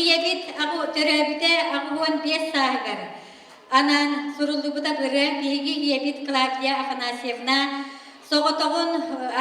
Ийэбит аҕы төрөөбүтэ аҕыс уон биэс сааһыгар анаан суруллубута быра биһиги ийэбит Клавдия Афанасьевна соҕотоҕун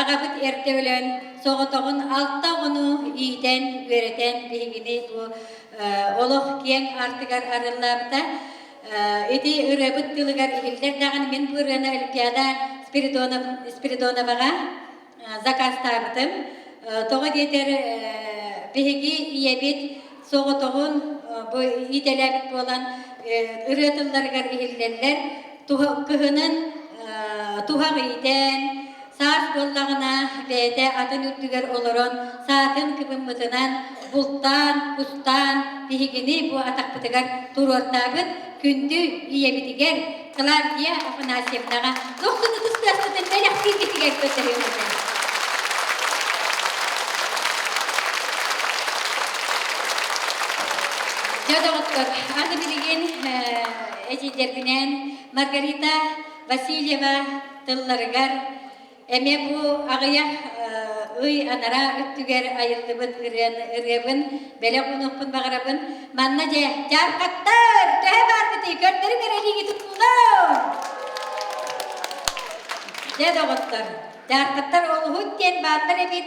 аҕабыт эрдэ өлөн соҕотоҕун алта оҕону иитэн үөрэтэн биһигини бу олох киэҥ артыгар арыллаабыта ити ырыабыт тылыгар иһиллэр даҕаны мин бу ырыаны олимпиада Спиридоноваҕа закастаабытым. Тоҕо диэтэр биһиги ийэбит соҕотоҕун бу идэлэбит буолан ырыа тылларыгар иһиллэллэр. Кыһынын туһах иитэн, саас буоллаҕына бэйэтэ атын үрдүгэр олорон саатын кыбыммытынан бултаан, кустаан биһигини бу атахпытыгар туруортаабыт. Күндү ийэбитигэр Клавдия Афанасьевнаҕа Дохсун ытыс тыаскытын бэлэхтииргитигэр көтөрүөм этэ. Дьэ, доҕоттор, аны билигин этиилэрбинэн Маргарита Васильева тылларыгар Эмиэ бу аҕыйах ый анараа өттүгэр айыллыбыт ырыан ырыабын бэлэх онохпун баҕарабын. Манна дьэ, дьаархаттар, төһө баарбытый, көрдөрүҥ эрэ илиигитин уулаан! Дьэ, доҕоттор, дьаархаттар олуһут диэн бааллар эбит.